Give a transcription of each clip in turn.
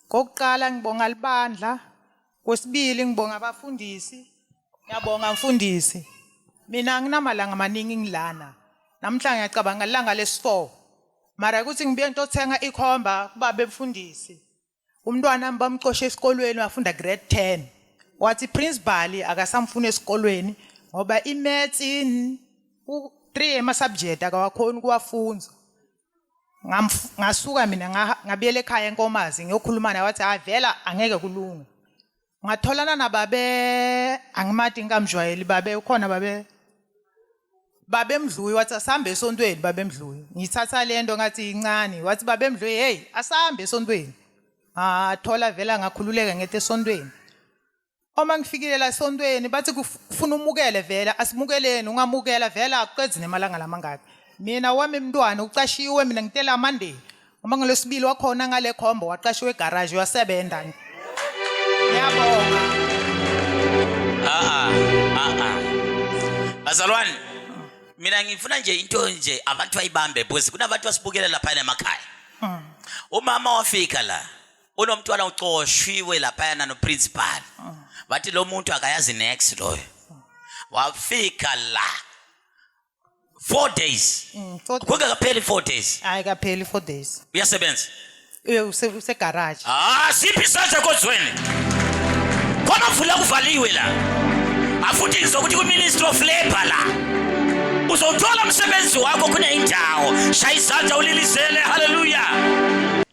Kokuqala ngibonga libandla, kwesibili ngibonga abafundisi. Ngiyabonga mfundisi. Mina anginamalanga amaningi ngilana. Namhla ngiyacabanga ilanga lesi-4. Mara ukuthi ngibuye ngitothenga ikhomba kubaba emfundisi. Umntwana wami bamxoshe esikolweni wafunda grade 10. Wathi principal akasamfuni esikolweni ngoba imaths in u3 ama subject akawakhoni kuwafunza. Ngamf- ngasuka mina ngaha- ngabuyela ekhaya enkomazi ngiyokhuluma naye wathi hayi vela angeke kulunge ngatholana nababe angimati ngikamjwayeli babe ukhona babe babemdluyi wathi asambe esontweni babemdluyi ngithatha le nto ngathi incane wathi babemdluyi heyi asambe esontweni ngathola vela ngakhululeka ngethi esontweni Uma ngifikile la esontweni bathi kuf- kufuna umukele vela asimukeleni ungamukela vela akuqedzi nemalanga lamangaki. Mina wami mntwana ucashiwe mina ngitela Monday. Uma ngolesibili wakhona ngale khombo waqashiwe egarage uyasebenza. Ngiyabonga. Ah ah ah. Bazalwane mina ngifuna nje into nje abantu bayibambe because kunabantu basibukela lapha emakhaya. Umama wafika la kunomntwana ucoshwiwe laphayana noprincipal bathi lo muntu akayazi nex loyo wafika la four days Mm, four days. kungekapheli four days hayi kapheli four days uyasebenza Uye use- usegaraji Ah, siphi isandla kozweni kwamavula kuvaliwe la afuthi ngizokuthi kwi-ministry of labour la uzowuthola umsebenzi wakho kuneyindawo shaya izandla ulilizele haleluya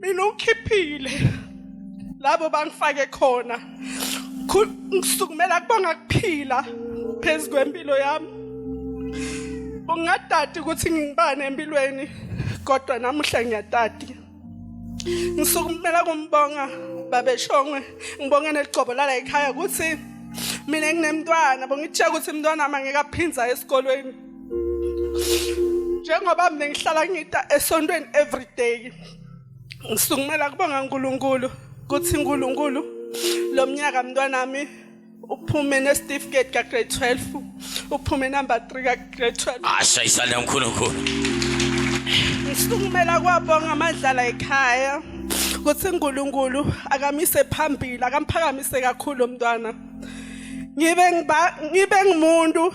mina ukhiphile labo bangifake khona ngisukumela kubanga kuphila phezu kwempilo yami ungadadi ukuthi ngibane empilweni kodwa namuhla ngiyadadi ngisukumela kumbonga babeshongwe ngibonge neligcobo lala ekhaya ukuthi mina nginemntwana bongitshela ukuthi umntwana wami angeke aphinza esikolweni njengoba mina ngihlala ngita esontweni every day ngisukumela kubonga uNkulunkulu kuthi uNkulunkulu lo mnyaka mntwanami uphume nesitifiketi ka grade 12 uphume number 3 ka grade 12 asha isale uNkulunkulu ngisukumela kwabonga amadlala ekhaya kuthi uNkulunkulu akamise phambili akamphakamise kakhulu umntwana ngibe ngiba ngibe ngumuntu